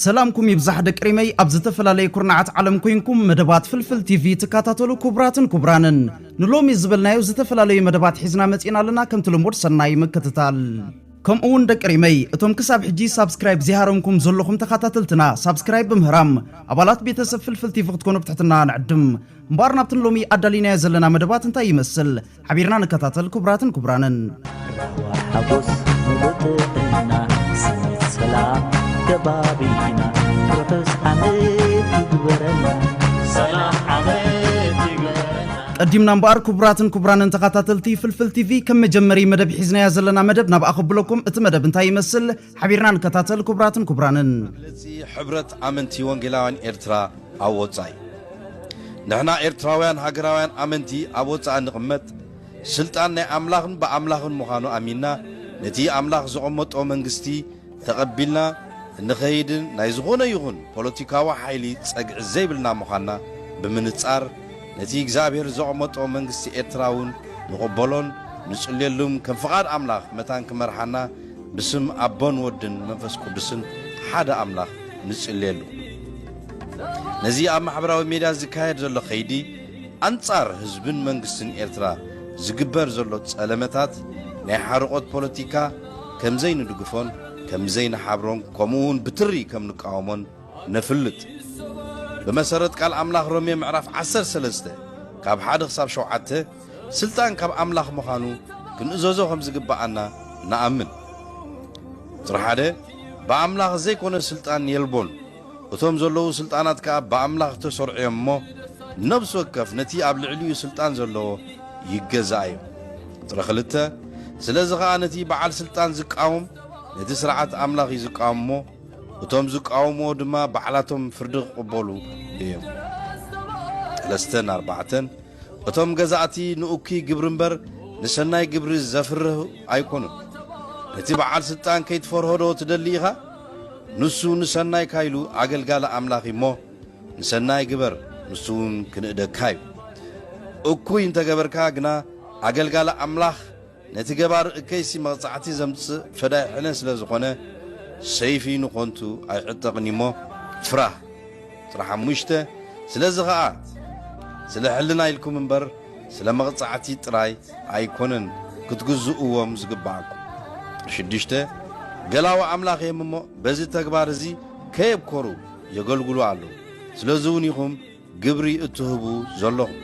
ሰላምኩም ይብዛሕ ደቂ ሪመይ ኣብ ዝተፈላለየ ኩርናዓት ዓለም ኮይንኩም መደባት ፍልፍል ቲቪ ትከታተሉ ክቡራትን ክቡራንን ንሎሚ ዝበልናዮ ዝተፈላለዩ መደባት ሒዝና መጺእና ኣለና ከምቲ ልሙድ ሰናይ ምክትታል ከምኡ እውን ደቂ ሪመይ እቶም ክሳብ ሕጂ ሳብስክራይብ ዘይሃረምኩም ዘለኹም ተኸታተልትና ሳብስክራይብ ብምህራም ኣባላት ቤተሰብ ፍልፍል ቲቪ ክትኮኑ ብትሕትና ንዕድም እምበኣር ናብቲ ንሎሚ ኣዳሊናዮ ዘለና መደባት እንታይ ይመስል ሓቢርና ንከታተል ክቡራትን ክቡራንን ሓጎስ ምሉጥዕና ስኒት ሰላም ከባቢና ርሑስ ዓመት ይግበረና ሰላም ዓመት ይግበረና ቀዲምና እምበኣር ክቡራትን ክቡራንን ተኸታተልቲ ፍልፍል ቲቪ ከም መጀመሪ መደብ ሒዝናያ ዘለና መደብ ናብ ኣኸብለኩም እቲ መደብ እንታይ ይመስል ሓቢርና ንከታተል ክቡራትን ክቡራንን። መግለጺ ሕብረት ኣመንቲ ወንጌላውያን ኤርትራ ኣብ ወጻኢ ንሕና ኤርትራውያን ሃገራውያን ኣመንቲ ኣብ ወጻኢ ንቕመጥ ስልጣን ናይ ኣምላኽን ብኣምላኽን ምዃኑ ኣሚንና ነቲ ኣምላኽ ዘቐመጦ መንግስቲ ተቐቢልና እንኸይድን ናይ ዝኾነ ይኹን ፖለቲካዊ ሓይሊ ጸግዒ ዘይብልና ምዃንና ብምንጻር ነቲ እግዚኣብሔር ዘቐመጦ መንግስቲ ኤርትራ እውን ንቕበሎን ንጽልየሉም ከም ፍቓድ ኣምላኽ መታን ክመርሓና ብስም ኣቦን ወድን መንፈስ ቅዱስን ሓደ ኣምላኽ ንጽልየሉ። ነዚ ኣብ ማሕበራዊ ሜድያ ዝካየድ ዘሎ ከይዲ ኣንጻር ህዝብን መንግስትን ኤርትራ ዝግበር ዘሎ ጸለመታት ናይ ሓርቖት ፖለቲካ ከምዘይንድግፎን ከምዘይንሓብሮን ከምኡ ውን ብትሪ ከምንቃወሞን ነፍልጥ። ብመሰረት ቃል ኣምላኽ ሮሜ ምዕራፍ ዓሰርተ ሰለስተ ካብ ሓደ ክሳብ ሸውዓተ ስልጣን ካብ ኣምላኽ ምዃኑ ክንእዘዞ ኸም ዚግብኣና ንኣምን። ቍጽሪ ሓደ፣ ብኣምላኽ ዘይኰነ ስልጣን የልቦን፣ እቶም ዘለዉ ስልጣናት ከኣ ብኣምላኽ እተሰርዑ እዮም እሞ፣ ነፍሲ ወከፍ ነቲ ኣብ ልዕሊኡ ስልጣን ዘለዎ ይገዛእ እዩ። ቍጽሪ ክልተ፣ ስለዚ ኸኣ ነቲ ብዓል ስልጣን ዚቃወም፣ ነቲ ስርዓት ኣምላኽ እዩ ዚቃወም እሞ፣ እቶም ዚቃወምዎ ድማ ባዕላቶም ፍርዲ ኪቕበሉ እዮም። ጠለስተ ን ኣርባዕተ ን። እቶም ገዛእቲ ንእኩይ ግብሪ እምበር ንሰናይ ግብሪ ዘፍርሁ ኣይኮኑን። ነቲ በዓል ስልጣን ከይትፈርሆዶ ትደሊ ኢኻ? ንሱ ንሰናይካ ኢሉ ኣገልጋሊ ኣምላኽ እዩ እሞ ንሰናይ ግበር ንሱ እውን ክንእደካ እዩ። እኩይ እንተገበርካ ግና ኣገልጋሊ ኣምላኽ ነቲ ገባር እከይሲ መቕጻዕቲ ዘምጽእ ፈዳይ ሕነ ስለ ዝኾነ፣ ሰይፊ ንኾንቱ ኣይዕጠቕን'ዩ'ሞ ፍራህ ጥራሕ ሓሙሽተ፣ ስለዚ ኸኣ ስለ ሕልና ኢልኩም እምበር ስለ መቕጻዕቲ ጥራይ ኣይኮነን ክትግዝእዎም ዝግብኣኩም። ሽዱሽተ፣ ገላዉ ኣምላኽ እየም'ሞ በዚ ተግባር እዚ ከየብኮሩ የገልግሉ ኣለዉ። ስለዚ'ውን ኢኹም ግብሪ እትህቡ ዘሎኹም።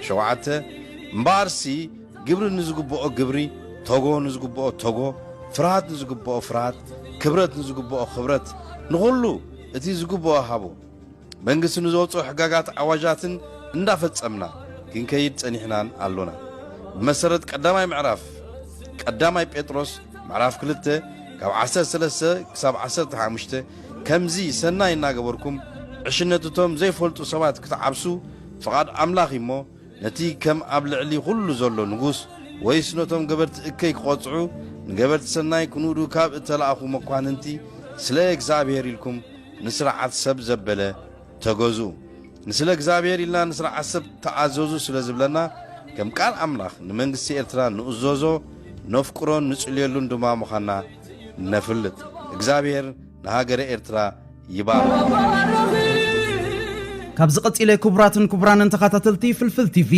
ሸውዓተ፣ እምበኣርሲ ግብሪ ንዝግብኦ ግብሪ፣ ቶጎ ንዝግብኦ ቶጎ፣ ፍርሃት ንዝግብኦ ፍርሃት፣ ክብረት ንዝግብኦ ክብረት፣ ንኹሉ እቲ ዝግብኦ ሃቡ። መንግስቲ ንዘውጽኦ ሕጋጋት ኣዋጃትን እንዳፈጸምና ክንከይድ ጸኒሕናን ኣሎና። ብመሰረት ቀዳማይ ምዕራፍ ቀዳማይ ጴጥሮስ ምዕራፍ ክልተ ካብ ዓሰርተ ሰለስተ ክሳብ ዓሰርተ ሓሙሽተ፣ ከምዚ ሰናይ እናገበርኩም ዕሽነት እቶም ዘይፈልጡ ሰባት ክትዓብሱ ፍቓድ ኣምላኽ እዩ እሞ፣ ነቲ ከም ኣብ ልዕሊ ዅሉ ዘሎ ንጉስ፣ ወይስ ነቶም ገበርቲ እከይ ክቐጽዑ ንገበርቲ ሰናይ ክንእዱ ካብ እተላእኩ መኳንንቲ፣ ስለ እግዚኣብሄር ኢልኩም ንስርዓት ሰብ ዘበለ ተገዙ። ንስለ እግዚኣብሄር ኢልና ንስርዓት ሰብ ተኣዘዙ ስለ ዝብለና፣ ከም ቃል ኣምላኽ ንመንግስቲ ኤርትራ ንእዘዞ፣ ነፍቅሮን ንጽልየሉን ድማ ምዃንና፣ ነፍልጥ እግዝኣብሄር ንሃገረ ኤርትራ ይባርኽ። ካብዚ ቀጺለ ክቡራትን ክቡራንን ተኻታተልቲ ፍልፍል ቲቪ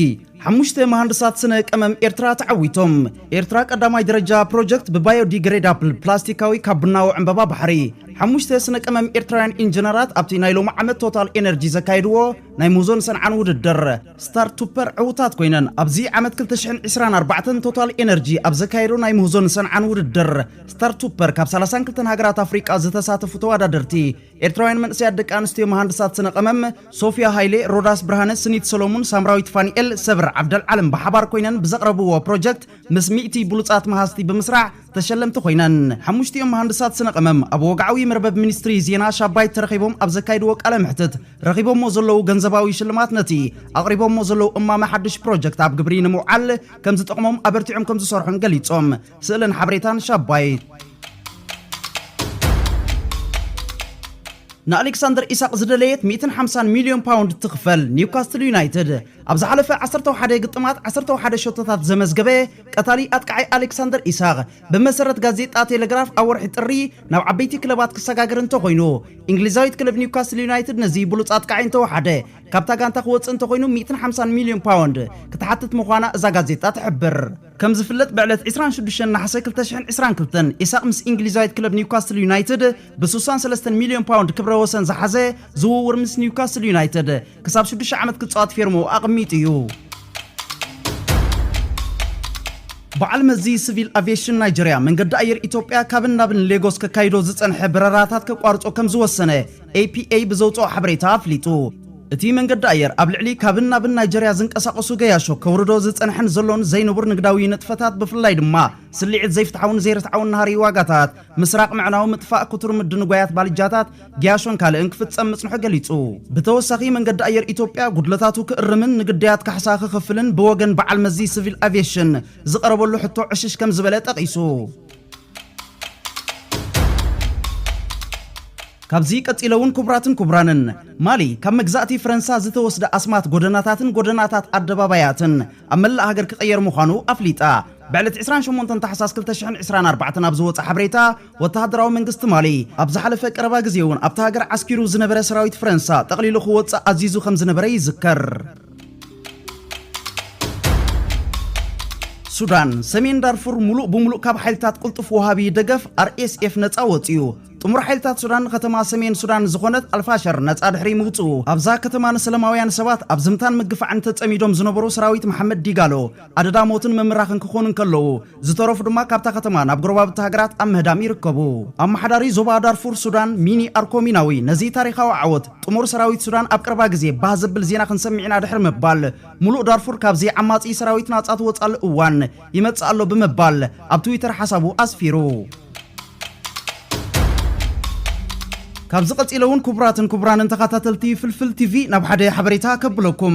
ሓሙሽተ መሃንድሳት ስነ ቀመም ኤርትራ ተዓዊቶም ኤርትራ ቀዳማይ ደረጃ ፕሮጀክት ብባዮዲግሬዳፕል ፕላስቲካዊ ካብ ቡናዊ ዕምበባ ባሕሪ ሓሙሽተ ስነ ቀመም ኤርትራውያን ኢንጂነራት ኣብቲ ናይ ሎሚ ዓመት ቶታል ኤነርጂ ዘካየድዎ ናይ ሙዞን ሰንዓን ውድድር ስታር ቱፐር ዕውታት ኮይነን ኣብዚ ዓመት ክልተ ሽሕን ዕስራን ኣርባዕተን ቶታል ኤነርጂ ኣብ ዘካየዶ ናይ ምህዞን ሰንዓን ውድድር ስታር ቱፐር ካብ ሰላሳን ክልተን ሃገራት ኣፍሪቃ ዝተሳተፉ ተወዳደርቲ ኤርትራውያን መንእሰያት ደቂ ኣንስትዮ መሃንድሳት ስነ ቀመም ሶፍያ ሃይሌ፣ ሮዳስ ብርሃነ፣ ስኒት ሰሎሙን፣ ሳምራዊት ፋኒኤል፣ ሰብር ዓብደልዓለም ብሓባር ኮይነን ብዘቕረብዎ ፕሮጀክት ምስ ሚእቲ ብሉጻት መሃዝቲ ብምስራሕ ተሸለምቲ ኮይነን። ሓሙሽቲኦም መሃንድሳት ስነ ቀመም ኣብ ወግዓዊ መርበብ ሚኒስትሪ ዜና ሻባይት ተረኺቦም ኣብ ዘካይድዎ ቃለ መሕትት ረኺቦሞ ዘለዉ ገንዘባዊ ሽልማት ነቲ ኣቕሪቦሞ ዘለዉ እማመ ሓድሽ ፕሮጀክት ኣብ ግብሪ ንምውዓል ከምዝጠቕሞም ኣበርቲዖም ከምዝሰርሑን ገሊፆም። ስእልን ሓበሬታን ሻባይት። ንኣሌክሳንደር ኢሳቕ ዝደለየት ሚእትን ሓምሳን ሚልዮን ፓውንድ ትኽፈል ኒውካስትል ዩናይትድ ኣብ ዝሓለፈ ዓሰርተ ወሓደ ግጥማት ዓሰርተ ወሓደ ሸቶታት ዘመዝገበ ቀታሊ ኣጥቃዓይ ኣሌክሳንደር ኢሳቕ፣ ብመሰረት ጋዜጣ ቴለግራፍ ኣብ ወርሒ ጥሪ ናብ ዓበይቲ ክለባት ክሰጋገር እንተኾይኑ፣ እንግሊዛዊት ክለብ ኒውካስል ዩናይትድ ነዚ ብሉጽ ኣጥቃዓይ እንተወሓደ ካብታ ጋንታ ክወጽእ እንተኾይኑ ሚእትን ሓምሳን ሚልዮን ፓውንድ ክትሓትት ምዃና እዛ ጋዜጣ ትሕብር። ከም ዝፍለጥ ብዕለት ዕስራን ሽዱሽተን ነሓሰ ክልተ ሽሕን ዕስራን ክልተን ኢሳቕ ምስ እንግሊዛዊት ክለብ ኒውካስል ዩናይትድ ብሱሳን ሰለስተን ሚልዮን ፓውንድ ክብረ ወሰን ዝሓዘ ዝውውር ምስ ኒውካስል ዩናይትድ ክሳብ ሽዱሽተ ዓመት ክፃወት ፌርምኡ ኣቐሚጡ እዩ። በዓል መዚ ስቪል ኣቪየሽን ናይጀርያ መንገዲ ኣየር ኢትዮጵያ ካብን ናብን ሌጎስ ከካይዶ ዝጸንሐ በረራታት ከቋርጾ ከም ዝወሰነ ኤፒኤ ብዘውጽኦ ሓበሬታ ኣፍሊጡ። እቲ መንገዲ ኣየር ኣብ ልዕሊ ካብን ናብን ናይጀርያ ዝንቀሳቐሱ ገያሾ ከውርዶ ዝጸንሐን ዘሎን ዘይንቡር ንግዳዊ ንጥፈታት ብፍላይ ድማ ስልዒት ዘይፍትሓውን ዘይርትዓውን ናህሪ ዋጋታት፣ ምስራቕ ምዕናው፣ ምጥፋእ ክቱር ምድንጓያት ባልጃታት፣ ጊያሾን ካልእን ክፍጸም ምጽንሑ ገሊጹ። ብተወሳኺ መንገዲ ኣየር ኢትዮጵያ ጉድለታቱ ክእርምን ንግዳያት ካሕሳ ክኸፍልን ብወገን በዓል መዚ ስቪል ኣቪየሽን ዝቐረበሉ ሕቶ ዕሽሽ ከም ዝበለ ጠቒሱ። ካብዚ ቀጺለውን ክቡራትን ክቡራንን፣ ማሊ ካብ መግዛእቲ ፍረንሳ ዝተወስደ ኣስማት ጎደናታትን ጎደናታት ኣደባባያትን ኣብ መላእ ሃገር ክቐየር ምዃኑ ኣፍሊጣ። ብዕለት ዕስራን ሸሞንተን ታሕሳስ ክልተ ሽሕን ዕስራን ኣርባዕተን ኣብ ዝወጸ ሓበሬታ፣ ወተሃደራዊ መንግስቲ ማሊ፣ ኣብ ዝሓለፈ ቀረባ ግዜ'ውን ኣብታ ሃገር ዓስኪሩ ዝነበረ ሰራዊት ፈረንሳ ጠቕሊሉ ክወጽእ ኣዚዙ ከም ዝነበረ ይዝከር። ሱዳን፣ ሰሜን ዳርፉር ሙሉእ ብሙሉእ ካብ ሓይልታት ቅልጡፍ ወሃቢ ደገፍ RSF ነጻ ወጺኡ። ጥሙር ሓይልታት ሱዳን ንከተማ ሰሜን ሱዳን ዝኾነት ኣልፋሸር ነጻ ድሕሪ ምውጽኡ፣ ኣብዛ ከተማ ንሰለማውያን ሰባት ኣብ ዝምታን ምግፋዕን ተጸሚዶም ዝነበሩ ሰራዊት መሓመድ ዲጋሎ፣ ኣደዳ ሞትን ምምራኽን ክኾኑ እንከለዉ፣ ዝተረፉ ድማ ካብታ ከተማ ናብ ጎረባብቲ ሃገራት ኣብ ምህዳም ይርከቡ። ኣመሓዳሪ ዞባ ዳርፉር ሱዳን ሚኒ ኣርኮ ሚናዊ ነዚ ታሪኻዊ ዓወት ጥሙር ሰራዊት ሱዳን ኣብ ቀረባ ግዜ ባህ ዘብል ዜና ክንሰምዕ ኢና ድሕሪ ምባል ሙሉእ ዳርፉር ካብዚ ዓማጺ ሰራዊት ናጻ ትወጽኣሉ እዋን ይመጽእ ኣሎ ብምባል ኣብ ትዊተር ሓሳቡ ኣስፊሩ። ካብዚ ቀጺለ ውን ክቡራትን ክቡራንን ተኻታተልቲ ፍልፍል ቲቪ ናብ ሓደ ሓበሬታ ከብለኩም።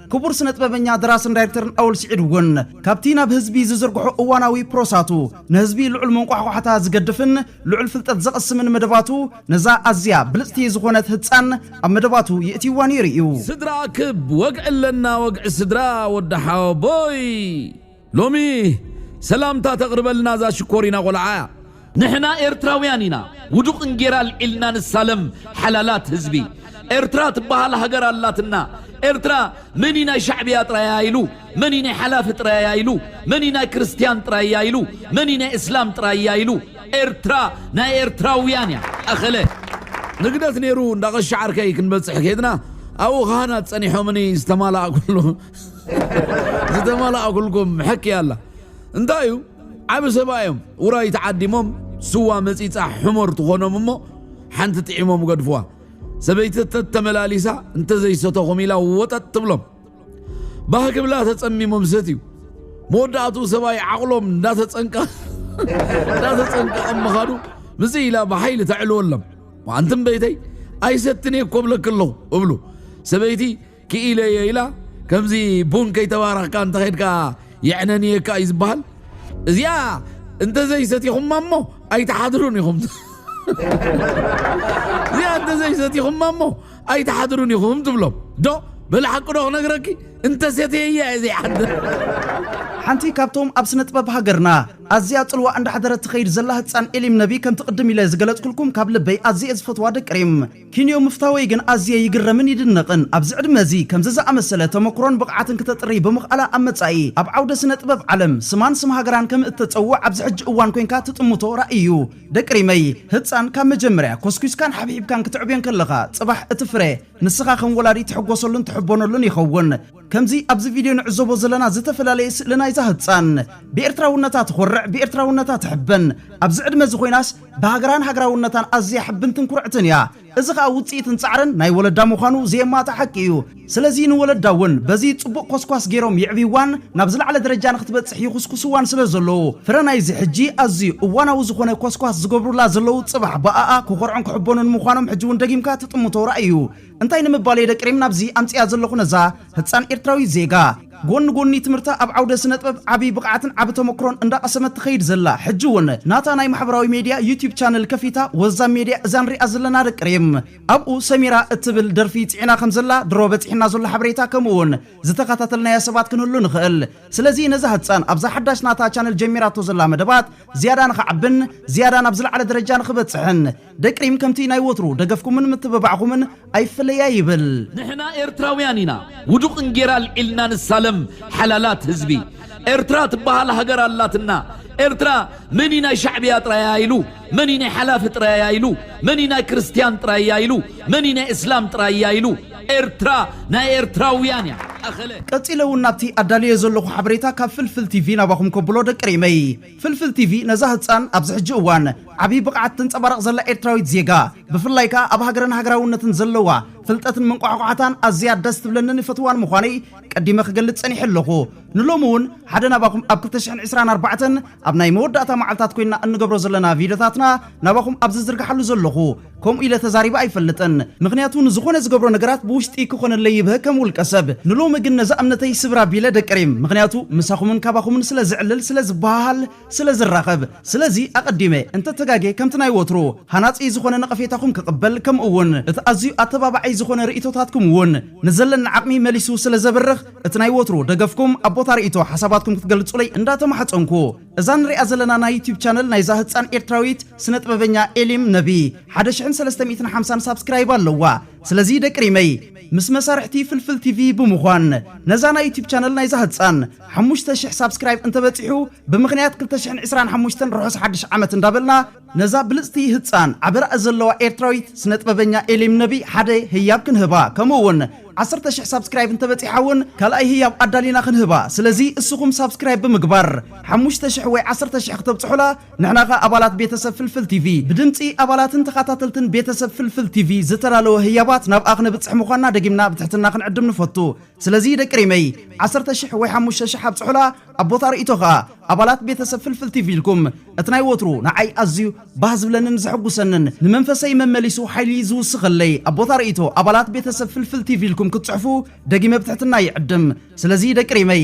ክቡር ስነጥበበኛ ደራስን ዳይርክተርን ኣወል ስዒድ እውን ካብቲ ናብ ህዝቢ ዝዝርግሖ እዋናዊ ፕሮሳቱ ንህዝቢ ልዑል መንቋሕቋሕታ ዝገድፍን ልዑል ፍልጠት ዘቕስምን መደባቱ ነዛ ኣዝያ ብልጽቲ ዝኾነት ህጻን ኣብ መደባቱ የእትይዋ ነይሩ እዩ። ስድራ ኣክብ ወግዒ ኣለና ወግዒ ስድራ ወዲ ሓወቦይ። ሎሚ ሰላምታ ተቅርበልና እዛ ሽኮሪና ቆልዓ እያ። ንሕና ኤርትራውያን ኢና ውዱቅ እንጌራ ኣልዒልና ንሳለም ሓላላት ህዝቢ ኤርትራ ትባሃል ሃገር ኣላትና ኤርትራ መን እዩ ናይ ሻዕብያ ጥራይ እያ ኢሉ መን እዩ ናይ ሓላፊ ጥራይ እያ ኢሉ መን እዩ ናይ ክርስትያን ጥራይ እያ ኢሉ መን እዩ ናይ እስላም ጥራይ እያ ኢሉ ኤርትራ ናይ ኤርትራውያን እያ ኣኸለ ንግደት ነይሩ እንዳቀሻ ዓርከይ ክንበጽሕ ከድና ኣብኡ ካህናት ጸኒሖምኒ ዝተማላእኩሉ ዝተመላእኩልኩም ሕክያ ኣላ እንታይ እዩ ዓብ ሰባ እዮም ውራይ ተዓዲሞም ስዋ መፂፃ ሕሞር ትኾኖም እሞ ሓንቲ ጥዒሞም ገድፍዋ ሰበይቲ ተተመላሊሳ እንተዘይሰተኹም ኢላ ወጠጥ ትብሎም ባህ ክብላ ተፀሚሞም ሰት እዩ መወዳእቱ ሰብኣይ ዓቕሎም እንዳተፀንቀቐም ምኻዱ ምዚ ኢላ ብሓይሊ ተዕልወሎም ኣንትም በይተይ ኣይሰትንየ ኮብለክ ኣለኹ እብሉ ሰበይቲ ክኢለ እየ ኢላ ከምዚ ቡን ከይተባረኽካ እንተኸድካ የዕነንየካ እዩ ዝበሃል እዚኣ እንተዘይሰቲኹማ እሞ ኣይትሓድሩን ኢኹም እዚኣ እንተዘይሰቲኹማ እሞ ኣይትሓድሩን ኢኹም ትብሎም ዶ በለ ሓቂ ዶ ክነግረኪ እንተሰትየ እያ እየ ዘይሓድር ሓንቲ ካብቶም ኣብ ስነ ጥበብ ሃገርና ኣዝያ ጽልዋ እንዳሕደረት ትኸይድ ዘላ ህጻን ኤሊም ነቢ ከምቲ ቅድም ኢለ ዝገለጽኩልኩም ካብ ልበይ ኣዝየ ዝፈትዋ ደቂ ሪም ኪንዮ ምፍታወይ ግን ኣዝየ ይግረምን ይድነቕን። ኣብዚ ዕድመ እዚ ከምዚ ዝኣመሰለ ተመኩሮን ብቕዓትን ክተጥርይ ብምኽኣላ ኣብ መጻኢ ኣብ ዓውደ ስነ ጥበብ ዓለም ስማን ስም ሃገራን ከም እተጸውዕ ኣብዚ ሕጂ እዋን ኮንካ ትጥምቶ ራኢ እዩ። ደቂ ሪመይ! ህጻን ካብ መጀመርያ ኮስኲስካን ሓብሒብካን ክትዕብዮ እንከለኻ ጽባሕ እቲ ፍረ ንስኻ ከም ወላዲ ትሕጎሰሉን ትሕቦነሉን ይኸውን። ከምዚ ኣብዚ ቪድዮ ንዕዘቦ ዘለና ዝተፈላለየ ስእሊ ናይዛ ህጻን፣ ብኤርትራውነታ ትኾርዕ፣ ብኤርትራውነታ ትሕበን፣ ኣብዚ ዕድመዚ ኮይናስ ብሃገራን ሃገራውነታን ኣዝያ ሕብንትን ኩርዕትን እያ። እዚ ከኣ ውጽኢትን ጻዕርን ናይ ወለዳ ምዃኑ ዘየማትእ ሓቂ እዩ። ስለዚ ንወለዳ እውን በዚ ጽቡቕ ኮስኳስ ገይሮም የዕብይዋን ናብ ዝለዓለ ደረጃ ንኽትበጽሕ ይኹስኩስዋን ስለ ዘለዉ፣ ፍረ ናይዚ ሕጂ ኣዝዩ እዋናዊ ዝኾነ ኮስኳስ ዝገብሩላ ዘለዉ ጽባሕ ብኣኣ ክኾርዑን ክሕበኑን ምዃኖም ሕጂ እውን ደጊምካ ትጥምቶ ራኢ እዩ። እንታይ ንምባል'የ ደቂ ሪም ናብዚ ኣምጺኣ ዘለኹ ነዛ ህጻን ኤርትራዊት ዜጋ ጎኒ ጎኒ ትምህርታ ኣብ ዓውደ ስነጥበብ ዓቢ ብቕዓትን ዓቢ ተመክሮን እንዳቐሰመት ትኸይድ ዘላ ሕጂ ውን ናታ ናይ ማሕበራዊ ሜድያ ዩቱብ ቻነል ከፊታ ወዛም ሜድያ እዛ ንሪኣ ዘለና ደቂ ሪም ኣብኡ ሰሚራ እትብል ደርፊ ጺዒና ከምዘላ ድሮ በጺሕና ዘሎ ሓበሬታ ከምኡ ውን ዝተኸታተልናያ ሰባት ክንህሉ ንኽእል ስለዚ ነዛ ህጻን ኣብዛ ሓዳሽ ናታ ቻነል ጀሚራቶ ዘላ መደባት ዝያዳ ንኽዓብን ዝያዳ ናብ ዝለዓለ ደረጃ ንኽበጽሕን ደቂ ሪም ከምቲ ናይ ወትሩ ደገፍኩምን ምትብባዕኹምን ኣይፍለያ ይብል። ንሕና ኤርትራውያን ኢና ውዱቅን ጌራ ኣልዒልና ንሳለም ሓላላት ህዝቢ ኤርትራ ትባሃል ሃገር ኣላትና ኤርትራ መን እዩ ናይ ሻዕብያ ጥራይ እያ ኢሉ መን እዩ ናይ ሓላፊ ጥራይ እያ ኢሉ መን እዩ ናይ ክርስትያን ጥራይ እያ ኢሉ መን እዩ ናይ እስላም ጥራይ እያ ኢሉ ኤርትራ ናይ ኤርትራውያን እያ ኣኸለ። ቀጺለ ውን ናብቲ ኣዳልየዮ ዘለኹ ሓበሬታ ካብ ፍልፍል ቲቪ ናባኹም ከብሎ ደቂ ሪመይ። ፍልፍል ቲቪ ነዛ ህጻን ኣብዚ ሕጂ እዋን ዓቢ ብቕዓት ተንጸባርቕ ዘላ ኤርትራዊት ዜጋ ብፍላይ ከኣ ኣብ ሃገርን ሃገራውነትን ዘለዋ ፍልጠትን መንቋሕቋሕታን ኣዝያ ደስ ትብለንን ይፈትዋን ምዃነይ ቀዲመ ክገልጽ ጸኒሐ ኣለኹ ንሎሚ ውን ሓደ ናባኹም ኣብ ክልተ ሽሕን ዕስራን ኣርባዕተን ኣብ ናይ መወዳእታ መዓልታት ኮይንና እንገብሮ ዘለና ቪድዮታትና ናባኹም ኣብ ዝዝርግሓሉ ዘለኹ ከምኡ ኢለ ተዛሪበ ኣይፈልጥን ምኽንያቱ ንዝኾነ ዝገብሮ ነገራት ብውሽጢ ክኾነለይ ይብሀ ከም ውልቀ ሰብ ንሎሚ ግን ነዛ እምነተይ ስብር ኣቢለ ደቂ ሪም ምኽንያቱ ምሳኹምን ካባኹምን ስለ ዝዕልል ስለ ዝበሃሃል ስለ ዝራኸብ ስለዚ ኣቐዲመ እንተ ተጋጌ ከምቲ ናይ ወትሩ ሃናጺ ዝኾነ ነቐፌታኹም ክቕበል ከምኡ ውን እቲ ኣዝዩ ኣተባባዒ ዝኾነ ርኢቶታትኩም ውን ንዘለኒ ዓቕሚ መሊሱ ስለ ዘብርኽ እቲ ናይ ወትሩ ደገፍኩም ኣብ ቦታ ርኢቶ ሓሳባትኩም ክትገልጹለይ እንዳ ተማሕጸንኩ እዛ ንሪኣ ዘለና ናይ ዩቱብ ቻነል ናይዛ ህጻን ኤርትራዊት ስነጥበበኛ ኤሊም ነቢ ሓደ ሽሕን ሰለስተ ሚእትን ሓምሳን ሳብስክራይብ ኣለዋ ስለዚ ደቂ ሪመይ ምስ መሳርሕቲ ፍልፍል ቲቪ ብምኳን ነዛ ናይ ዩቱብ ቻነል ናይዛ ህጻን ሓሙሽተ ሽሕ ሳብስክራይብ እንተበጺሑ ብምኽንያት ክልተ ሽሕን ዕስራን ሓሙሽተን ርሑስ ሓድሽ ዓመት እንዳበልና ነዛ ብልጽቲ ህጻን ዓቢ ራኢ ዘለዋ ኤርትራዊት ስነጥበበኛ ኤሊም ነቢ ሓደ ህያብ ክንህባ ከምኡ ውን ዓሰርተ ሽሕ ሳብስክራይብ እንተበጺሓ ውን ካልኣይ ህያብ ኣዳሊና ክንህባ ስለዚ እስኹም ሳብስክራይብ ብምግባር ሓሙሽተ ሽሕ ወይ ዓሰርተ ሽሕ ክተብጽሑላ ንሕና ከኣ ኣባላት ቤተሰብ ፍልፍል ቲቪ ብድምጺ ኣባላትን ተኻታተልትን ቤተሰብ ፍልፍል ቲቪ ዝተዳለወ ህያባት ናብኣ ክነብጽሕ ምዃንና ደጊምና ብትሕትና ክንዕድም ንፈቱ። ስለዚ ደቂ ሪመይ ዓሰርተ ሽሕ ወይ ሓሙሽተ ሽሕ ኣብጽሑላ ኣብ ቦታ ርእይቶ ከኣ ኣባላት ቤተሰብ ፍልፍል ቲቪ ኢልኩም እቲ ናይ ወትሩ ንዓይ ኣዝዩ ባህ ዝብለንን ዘሕጉሰንን ንመንፈሰይ መመሊሱ ሓይሊ ዝውስኸለይ ኣብ ቦታ ርእይቶ ኣባላት ቤተሰብ ፍልፍል ቲቪ ኢልኩም ክትጽሕፉ ደጊመ ብትሕትና ይዕድም ስለዚ ደቂ ሪመይ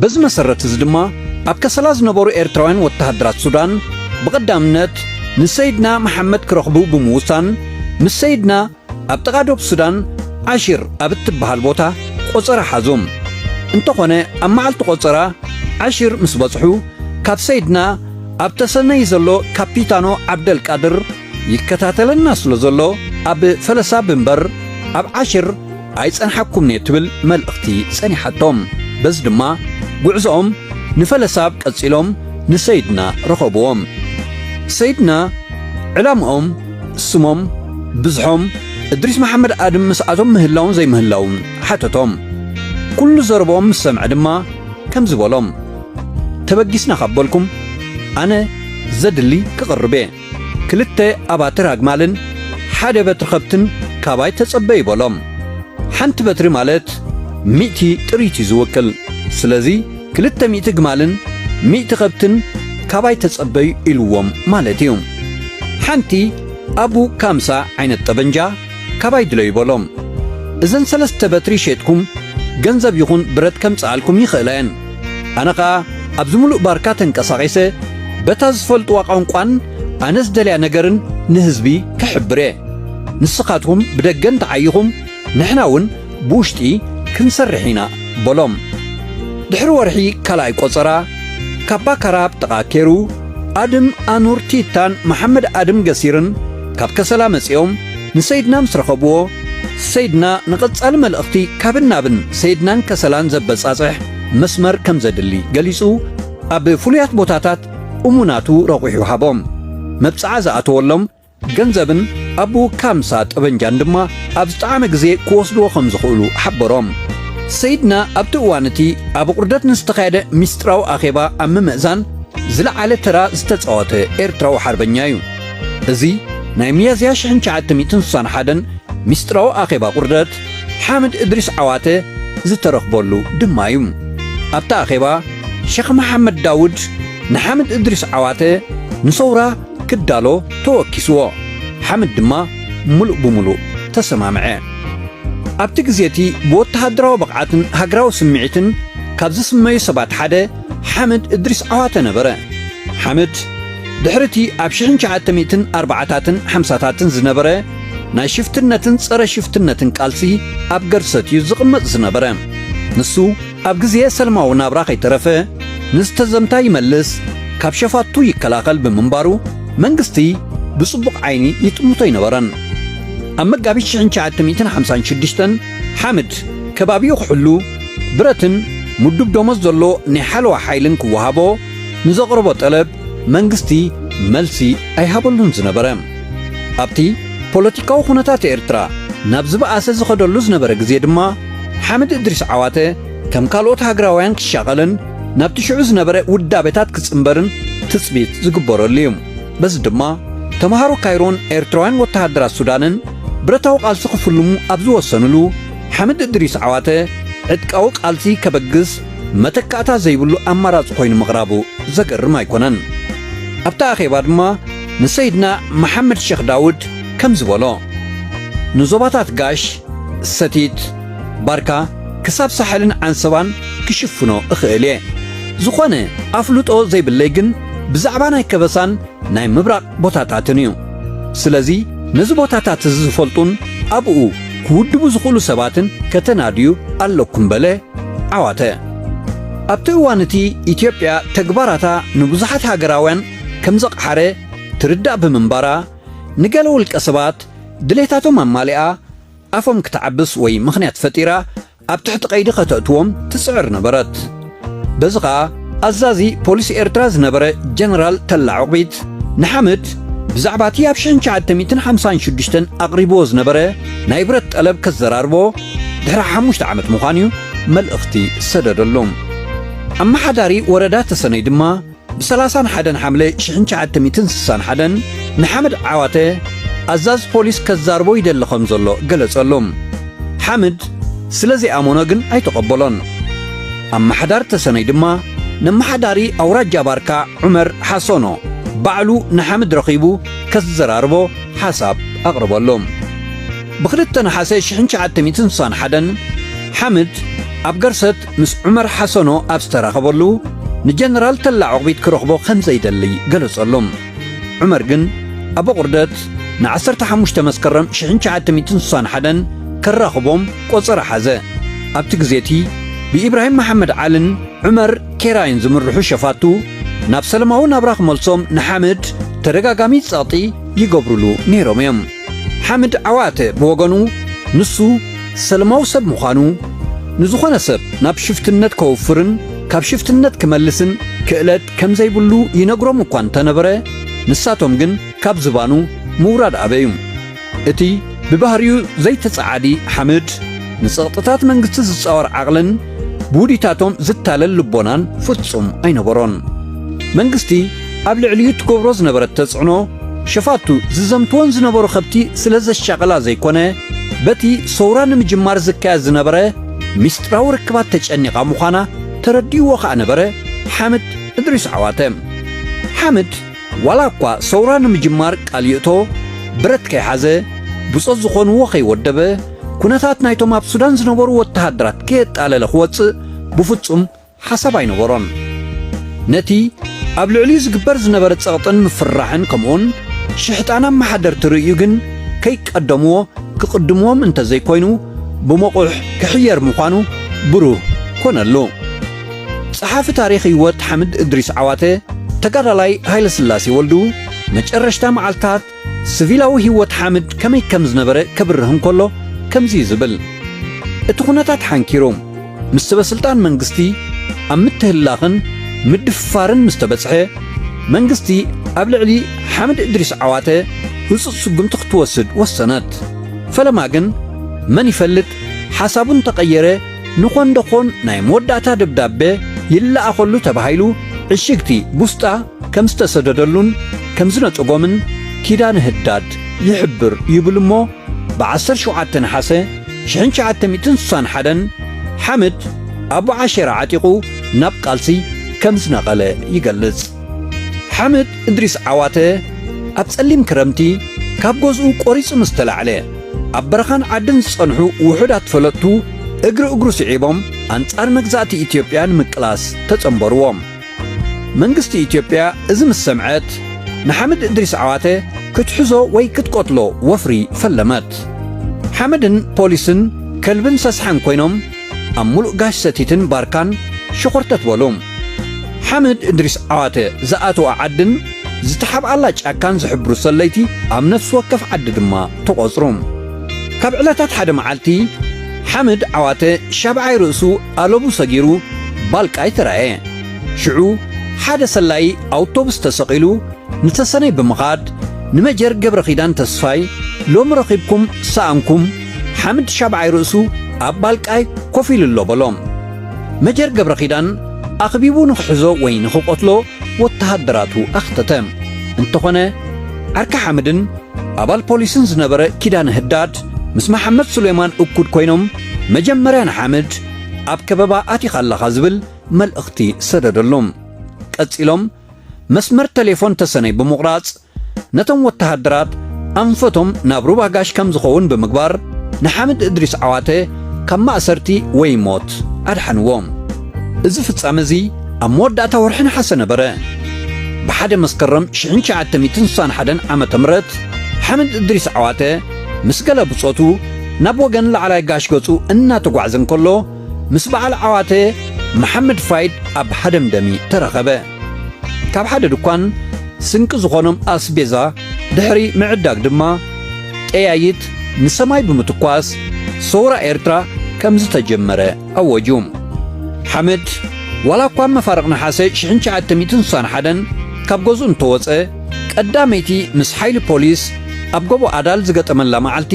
በዚ መሰረት እዚ ድማ ኣብ ከሰላ ዝነበሩ ኤርትራውያን ወተሃደራት ሱዳን ብቐዳምነት ንሰይድና መሓመድ ክረኽቡ ብምውሳን ምስ ሰይድና ኣብ ጥቓ ዶብ ሱዳን ዓሺር ኣብ እትበሃል ቦታ ቆጸራ ሓዙም። እንተኾነ ኣብ መዓልቲ ቆጸራ ዓሺር ምስ በጽሑ ካብ ሰይድና ኣብ ተሰነይ ዘሎ ካፒታኖ ዓብደልቃድር ይከታተለና ስለ ዘሎ ኣብ ፈለሳ ብንበር ኣብ ዓሽር ኣይጸንሓኩምን'የ ትብል መልእኽቲ ጸኒሓቶም። በዚ ድማ ጉዕዞኦም ንፈለሳብ ቀጺሎም ንሰይድና ረኸብዎም። ሰይድና ዕላምኦም፣ ስሞም፣ ብዝሖም፣ እድሪስ መሓመድ ኣድም ምስኣቶም ምህላዉን ዘይምህላዉን ሓተቶም። ኩሉ ዘረብኦም ምስ ሰምዐ ድማ ከምዚ በሎም፣ ተበጊስና ካብ በልኩም ኣነ ዘድሊ ክቕርብ'የ። ክልተ ኣባትር ኣግማልን ሓደ በትሪ ኸብትን ካባይ ተጸበዩ በሎም። ሓንቲ በትሪ ማለት ሚእቲ ጥሪት እዩ ዝውክል። ስለዚ ክልተ ሚእቲ ኣግማልን ሚእቲ ኸብትን ካባይ ተጸበዩ ኢልዎም ማለት እዩ። ሓንቲ ኣቡ ካምሳ ዓይነት ጠበንጃ ካባይ ድለዩ በሎም። እዘን ሰለስተ በትሪ ሼጥኩም ገንዘብ ይኹን ብረት ከምጽኣልኩም ይኽእላ እየን። ኣነ ኸኣ ኣብዚ ምሉእ ባርካ ተንቀሳቒሰ በታ ዝፈልጥዋ ቛንቋን ኣነ ዝደልያ ነገርን ንህዝቢ ክሕብር እየ። ንስኻትኩም ብደገ እንተ ዓይኹም ንሕና እውን ብውሽጢ ክንሰርሕ ኢና በሎም። ድሕሪ ወርሒ ካልኣይ ቈጸራ ካፓካራ ኣብ ጥቓ ኬሩ ኣድም ኣኑር ቲታን መሓመድ ኣድም ገሲርን፣ ካብ ከሰላ መጺኦም ንሰይድና ምስ ረኸብዎ፣ ሰይድና ንቐጻሊ መልእኽቲ ካብን ናብን ሰይድናን ከሰላን ዘበጻጽሕ መስመር ከም ዘድሊ ገሊጹ፣ ኣብ ፍሉያት ቦታታት እሙናቱ ረቝሑ ሃቦም። መብጽዓ ዝኣተወሎም ገንዘብን ኣቡኡ ካምሳ ጠበንጃን ድማ ኣብ ዝጠዓመ ግዜ ክወስድዎ ከም ዝኽእሉ ሓበሮም። ሰይድና ኣብቲ እዋን እቲ ኣብ ኣቝርደት ንዝተኻየደ ምስጢራዊ ኣኼባ ኣብ ምምእዛን ዝለዓለ ተራ ዝተጻወተ ኤርትራዊ ሓርበኛ እዩ። እዚ ናይ ሚያዝያ ሽሕን ትሽዓተ ሚእትን ስሳን ሓደን ሚስጥራዊ ኣኼባ ቁርደት ሓምድ እድሪስ ዓዋተ ዝተረኽበሉ ድማ እዩ። ኣብቲ ኣኼባ ሸኽ መሓመድ ዳውድ ንሓምድ እድሪስ ዓዋተ ንሰውራ ክዳሎ ተወኪስዎ፣ ሓምድ ድማ ምሉእ ብምሉእ ተሰማምዐ። ኣብቲ ግዜ እቲ ብወተሃደራዊ ብቕዓትን ሃገራዊ ስምዒትን ካብ ዝስመዩ ሰባት ሓደ ሓምድ እድሪስ ዓዋተ ነበረ። ሓምድ ድሕሪ እቲ ኣብ ሽሕን ትሽዓተ ሚእትን ኣርባዓታትን ሓምሳታትን ዝነበረ ናይ ሽፍትነትን ጸረ ሽፍትነትን ቃልሲ ኣብ ገርሰት እዩ ዝቕመጥ ዝነበረ። ንሱ ኣብ ግዜ ሰልማዊ ናብራ ከይተረፈ ንዝተዘምታ ይመልስ፣ ካብ ሸፋቱ ይከላኸል ብምንባሩ መንግስቲ ብጽቡቕ ዓይኒ ይጥምቶ ኣይነበረን። ኣብ መጋቢት ሽሕን ትሽዓተ ሚእትን ሓምሳን ሽዱሽተን ሓምድ ከባቢኡ ክሕሉ ብረትን ምዱብ ደሞዝ ዘሎ ናይ ሓለዋ ሓይልን ክወሃቦ፣ ንዘቕረቦ ጠለብ መንግስቲ መልሲ ኣይሃበሉን ዝነበረ። ኣብቲ ፖለቲካዊ ኩነታት ኤርትራ ናብ ዝበኣሰ ዝኸደሉ ዝነበረ ግዜ ድማ ሓምድ እድሪስ ዓዋተ ከም ካልኦት ሃገራውያን ክሻቐልን ናብቲ ሽዑ ዝነበረ ውዳቤታት ክጽንበርን ትጽቢት ዝግበረሉ እዩ። በዚ ድማ ተመሃሮ ካይሮን ኤርትራውያን ወተሃደራት ሱዳንን ብረታዊ ቃልሲ ክፍልሙ ኣብ ዝወሰንሉ ሓምድ እድሪስ ዓዋተ ዕጥቃዊ ቃልሲ ከበግስ መተካእታ ዘይብሉ ኣማራጺ ኮይኑ ምቕራቡ ዘገርም ኣይኮነን። ኣብቲ ኣኼባ ድማ ንሰይድና መሓመድ ሸኽ ዳውድ ከምዚ በሎ፣ ንዞባታት ጋሽ፣ ሰቲት፣ ባርካ ክሳብ ሳሕልን ዓንሰባን ክሽፍኖ እኽእል እየ። ዝኾነ ኣፍልጦ ዘይብለይ ግን ብዛዕባ ናይ ከበሳን ናይ ምብራቕ ቦታታትን እዩ። ስለዚ ነዚ ቦታታት እዚ ዝፈልጡን ኣብኡ ክውድቡ ዝኽእሉ ሰባትን ከተናድዩ ኣለኩም በለ ዓዋተ። ኣብቲ እዋን እቲ ኢትዮጵያ ተግባራታ ንብዙሓት ሃገራውያን ከም ዘቕሓረ ትርዳእ ብምንባራ ንገለ ውልቀ ሰባት ድሌታቶም ኣማሊኣ ኣፎም ክትዓብስ ወይ ምኽንያት ፈጢራ ኣብ ትሕቲ ቀይዲ ከተእትዎም ትጽዕር ነበረት። በዚ ኸኣ ኣዛዚ ፖሊስ ኤርትራ ዝነበረ ጀነራል ተላ ዑቕቢት ንሓምድ ብዛዕባ እቲ ኣብ ሽሕን ትሽዓተ ሚእትን ሓምሳን ሽዱሽተን ኣቕሪብዎ ዝነበረ ናይ ብረት ጠለብ ከዘራርቦ ድሕሪ ሓሙሽተ ዓመት ምዃኑ'ዩ መልእኽቲ ዝሰደደሉ። ኣመሓዳሪ ወረዳ ተሰነይ ድማ፣ ብ ሰላሳን ሓደን ሓምለ ሽሕን ትሽዓተ ሚእትን ስሳን ሓደን ንሓምድ ዓዋተ ኣዛዚ ፖሊስ ከዛርቦ ይደሊ ከም ዘሎ ገለጸሉ። ሓምድ ስለ ዘይኣመኖ ግን ኣይተቐበሎን። ኣማሓዳሪ ተሰነይ ድማ ነማሓዳሪ ኣውራጃ ባርካ ዑመር ሓሶኖ ባዕሉ ንሓምድ ረኺቡ ከዘራርቦ ሓሳብ ኣቕረበሉ። ብ ክልተ ነሓሰ ሽሕን ትሽዓተ ሚእትን ስሳን ሓደን ሓምድ ኣብ ገርሰት ምስ ዑመር ሓሰኖ ኣብ ዝተራኸበሉ፣ ንጀነራል ተላ ዑቕቢት ክረኽቦ ከም ዘይደሊ ገለጸሉ። ዑመር ግን ኣቦቑርደት ንዓሰርተ ሓሙሽተ መስከረም ሽሕን ትሽዓተ ሚእትን ስሳን ሓደን ከራኽቦም ቆጸራ ሓዘ። ኣብቲ ግዜ'ቲ ብኢብራሂም መሓመድ ዓልን ዑመር ኬራይን ዝምርሑ ሸፋቱ ናብ ሰለማዊ ናብራ ክመልሶም ንሓምድ ተደጋጋሚ ጸቕጢ ይገብሩሉ ነይሮም'ዮም። ሓምድ ዓዋተ ብወገኑ ንሱ ሰለማዊ ሰብ ምዃኑ፣ ንዝኾነ ሰብ ናብ ሽፍትነት ከውፍርን ካብ ሽፍትነት ክመልስን ክእለት ከምዘይብሉ ይነግሮም እኳ እንተነበረ፣ ንሳቶም ግን ካብ ዝባኑ ምውራድ ኣበዩ። እቲ ብባህሪኡ ዘይተጸዓዲ ሓምድ፣ ንጸቕጥታት መንግስቲ ዝጻወር ዓቕልን ብውዲታቶም ዝታለል ልቦናን ፍጹም ኣይነበሮን። መንግስቲ፣ ኣብ ልዕሊኡ እትገብሮ ዝነበረት ተጽዕኖ፣ ሸፋቱ ዝዘምትወን ዝነበሩ ከብቲ ስለ ዘሻቕላ ዘይኮነ፣ በቲ ሰውራ ንምጅማር ዝካየድ ዝነበረ ሚስጥራዊ ርክባት ተጨኒቓ ምዃና ተረዲእዎ ከኣ ነበረ ሓምድ እድሪስ ዓዋተ። ሓምድ ዋላ እኳ ሰውራ ንምጅማር ቃል ይእቶ፣ ብረት ከይሓዘ፣ ብጾት ዝኾንዎ ከይወደበ፣ ኩነታት ናይቶም ኣብ ሱዳን ዝነበሩ ወተሃደራት ከየጣለለ ክወጽእ ብፍጹም ሓሳብ ኣይነበሮን። ነቲ ኣብ ልዕሊኡ ዝግበር ዝነበረ ጸቕጥን ምፍርራሕን ከምኡውን ሽሕጣን ኣመሓደርቲ ርእዩ ግን ከይቀደምዎ ክቕድምዎም እንተ ዘይኮይኑ ብመቑሕ ክሕየር ምዃኑ ብሩህ ኮነሉ። ጸሓፊ ታሪኽ ህይወት ሓምድ እድሪስ ዓዋተ፣ ተጋዳላይ ሃይለስላሴ ወልዱ መጨረሽታ መዓልታት ስቪላዊ ህይወት ሓምድ ከመይ ከም ዝነበረ ከብርህ እንከሎ ከምዚ እዩ ዝብል፣ እቲ ኩነታት ሓንኪሩ ምስ ሰበስልጣን መንግስቲ ኣብ ምትህልላኽን ምድፍፋርን ምስ ተበጽሐ፣ መንግስቲ ኣብ ልዕሊ ሓምድ እድሪስ ዓዋተ ህጹጽ ስጉምቲ ክትወስድ ወሰነት። ፈለማ ግን መን ይፈልጥ ሓሳቡ እንተቐየረ፣ ንኾንደኾን ናይ መወዳእታ ደብዳበ ይለኣኸሉ ተባሂሉ ዕሽግቲ ቡስጣ ከም ዝተሰደደሉን ከም ዝነጸጎምን ኪዳነ ህዳድ ይሕብር ይብል'ሞ ብ ዓሰርተ ሸውዓተ ነሓሰ ሽሕን ትሽዓተ ሚእትን ስሳን ሓደን ሓምድ ኣቡ ዓሸራ ዓጢቑ ናብ ቃልሲ ከም ዝነቐለ ይገልጽ። ሓምድ እድሪስ ዓዋተ ኣብ ጸሊም ክረምቲ ካብ ገዝኡ ቆሪጹ ምስ ተላዕለ፣ ኣብ በረኻን ዓድን ዝጸንሑ ውሑዳት ፈለጥቱ እግሪ እግሩ ስዒቦም ኣንጻር መግዛእቲ ኢትዮጵያ ንምቅላስ ተጸንበርዎም። መንግስቲ ኢትዮጵያ እዚ ምስ ሰምዐት ንሓምድ እድሪስ ዓዋተ ክትሕዞ ወይ ክትቀትሎ ወፍሪ ፈለመት። ሓምድን ፖሊስን ከልብን ሰስሓን ኮይኖም ኣብ ሙሉእ ጋሽ ሰቲትን ባርካን ሸኾርተት በሉ። ሓምድ እድሪስ ዓዋተ ዝኣተዋ ዓድን ዝተሓብኣላ ጫካን ዝሕብሩ ሰለይቲ ኣብ ነፍሲ ወከፍ ዓዲ ድማ ተቖፅሩ። ካብ ዕለታት ሓደ መዓልቲ ሓምድ ዓዋተ ሻብዓይ ርእሱ ኣለቡ ሰጊሩ ባልቃይ ተራእየ። ሽዑ ሓደ ሰላዪ ኣውቶቡስ ተሰቒሉ ንተሰነይ ብምኻድ ንመጀር ገብረኺዳን ተስፋይ ሎሚ ረኺብኩም ሰኣንኩም፣ ሓምድ ሻብዓይ ርእሱ ኣብ ባልቃይ ኮፍ ኢሉ ኣሎ በሎ። መጀር ገብረኺዳን ኣኽቢቡ ንኽሕዞ ወይ ንኽቐትሎ ወተሃደራቱ ኣኽተተ። እንተኾነ ዓርኪ ሓምድን ኣባል ፖሊስን ዝነበረ ኪዳነ ህዳድ ምስ መሓመድ ሱሌማን እኩድ ኮይኖም መጀመርያ ንሓምድ ኣብ ከበባ ኣቲኻ ኣለኻ ዝብል መልእኽቲ ሰደደሉ። ቀጺሎም መስመር ተሌፎን ተሰነይ ብምቑራጽ ነቶም ወተሃደራት ኣንፈቶም ናብ ሩባ ጋሽ ከም ዝኸውን ብምግባር ንሓምድ እድሪስ ዓዋተ ካብ ማእሰርቲ ወይ ሞት ኣድሓንዎም። እዚ ፍጻመ እዚ ኣብ መወዳእታ ወርሒ ነሓሰ ነበረ። ብሓደ መስከረም ሽሕን ትሽዓተ ሚእትን ስሳን ሓደን ዓመተ ምህረት ሓምድ እድሪስ ዓዋተ ምስ ገለ ብጾቱ ናብ ወገን ላዕላይ ጋሽ ገጹ እናተጓዕዘ እንከሎ ምስ በዓል ዓዋተ መሓመድ ፋይድ ኣብ ሃደምደሚ ተራኸበ። ካብ ሓደ ድኳን ስንቂ ዝኾኖም ኣስቤዛ ድሕሪ ምዕዳግ ድማ ጠያይት ንሰማይ ብምትኳስ ሰውራ ኤርትራ ከምዝተጀመረ ኣወጁ። ሓምድ ዋላ እኳ ኣብ መፋርቕ ነሓሰ ሽሕን ትሽዓተ ሚእትን ስሳን ሓደን ካብ ገዝኡ እንተወጸ፣ ቀዳመይቲ ምስ ሓይሊ ፖሊስ ኣብ ጎቦ ኣዳል ዝገጠመላ መዓልቲ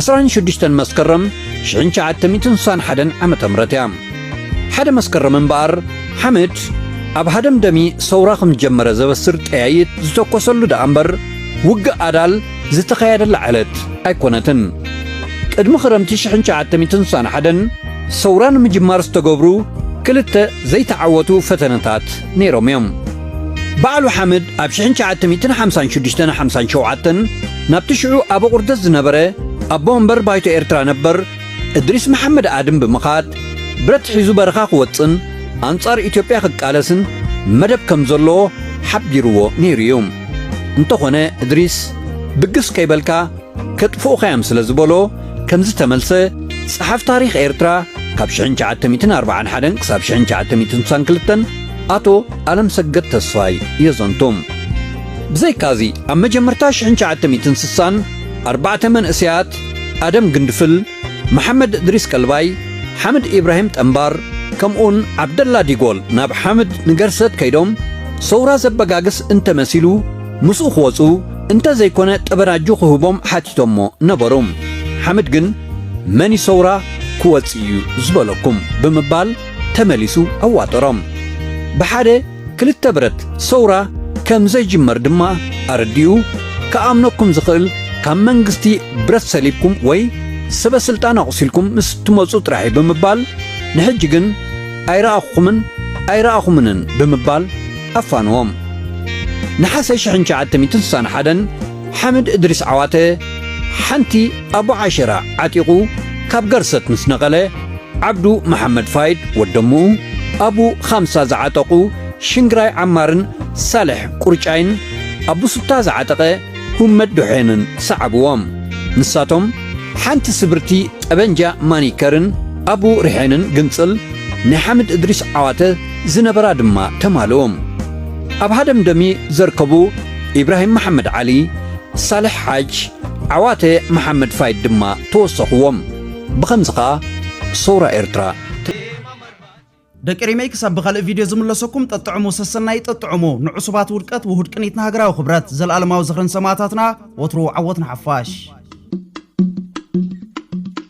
ዕስራን ሽዱሽተን መስከረም ሽሕን ትሽዓተ ሚእትን ስሳን ሓደን ዓመተ ምህረት እያ። ሓደ መስከረም እምበኣር ሓምድ ኣብ ሃደምደሚ ሰውራ ከም ዝጀመረ ዘበስር ጠያይት ዝተኮሰሉ ደኣ እምበር ውግእ ኣዳል ዝተኸያደላ ዕለት ኣይኮነትን። ቅድሚ ክረምቲ ሽሕን ትሽዓተ ሚእትን ስሳን ሓደን ሰውራ ንምጅማር ዝተገብሩ ክልተ ዘይተዓወቱ ፈተነታት ነይሮም እዮም። ባዕሉ ሓምድ ኣብ ሽሕን ትሽዓተ ሚእትን ሓምሳን ሽዱሽተን ሓምሳን ሸውዓተን ናብቲ ሽዑ ኣበ ቁርደት ዝነበረ ኣቦ ወንበር ባይቶ ኤርትራ ነበር እድሪስ መሓመድ ኣድም ብምኻድ ብረት ሒዙ በረኻ ክወጽን ኣንጻር ኢትዮጵያ ክቃለስን መደብ ከም ዘለዎ ሓቢርዎ ነይሩ እዩ። እንተኾነ እድሪስ ብግስ ከይበልካ ከጥፍኡኻ'ዮም ስለ ዝበሎ ከም ዝተመልሰ ጸሓፍ ታሪኽ ኤርትራ ካብ ሽሕን ትሽዓተ ሚእትን ኣርብዓን ሓደን ክሳብ ሽሕን ትሽዓተ ሚእትን ስሳን ክልተን ኣቶ ኣለምሰገድ ተስፋይ የዘንቱ። ብዘይካ'ዚ ኣብ መጀመርታ ሽሕን ትሽዓተ ሚእትን ስሳን ኣርባዕተ መንእሰያት ኣደም ግንድፍል፣ መሓመድ እድሪስ ቀልባይ፣ ሓምድ ኢብራሂም ጠምባር ከምኡውን ዓብደላ ዲጎል ናብ ሓምድ ንገርሰት ከይዶም ሰውራ ዘበጋግስ እንተ መሲሉ ምስኡ ክወጹ እንተ ዘይኮነ ጠበናጁ ክህቦም ሓቲቶሞ ነበሩ። ሓምድ ግን መን እዩ ሰውራ ክወጽእ እዩ ዝበለኩም ብምባል ተመሊሱ ኣዋጠሮም። ብሓደ ክልተ ብረት ሰውራ ከም ዘይጅመር ድማ ኣረዲኡ፣ ክኣምነኩም ዝኽእል ካብ መንግስቲ ብረት ሰሊብኩም ወይ ሰበ ስልጣን ኣቑሲልኩም ምስ እትመጹ ጥራሕ'ዩ ብምባል ንሕጂ ግን ኣይረኣኹኹምን ኣይረኣኹምንን ብምባል ኣፋንዎም። ነሓሰ ሽሕን ትሽዓተ ሚእትን ስሳን ሓደን፣ ሓምድ እድሪስ ዓዋተ ሓንቲ ኣቡ ዓሸራ ዓጢቑ ካብ ገርሰት ምስ ነቐለ፣ ዓብዱ መሓመድ ፋይድ ወደሙኡ፣ ኣቡ ኻምሳ ዝዓጠቑ ሽንግራይ ዓማርን ሳልሕ ቁርጫይን፣ ኣቡ ሱታ ዝዓጠቐ ሁመድ ዶሖንን ሰዓቡዎም። ንሳቶም ሓንቲ ስብርቲ ጠበንጃ ማኒከርን ኣቡ ሪሐንን ግንጽል ናይ ሓምድ እድሪስ ዓዋተ ዝነበራ ድማ ተማልኡ። ኣብ ሃደምደሚ ዘርከቡ ኢብራሂም መሓመድ ዓሊ፣ ሳልሕ ሓጅ፣ ዓዋተ መሓመድ ፋይድ ድማ ተወሰኹዎም። ብኸምዚ ኸኣ ሰውራ ኤርትራ። ደቂ ሪመይ ክሳብ ብኻልእ ቪድዮ ዝምለሰኩም ጠጥዕሙ ሰሰናዩ ጠጥዕሙ ንዑሱባት ውድቀት ውሁድ ቅኒት ንሃገራዊ ክብረት ዘልኣለማዊ ዝኽሪ ንሰማእታትና ወትሩ ዓወት ንሓፋሽ።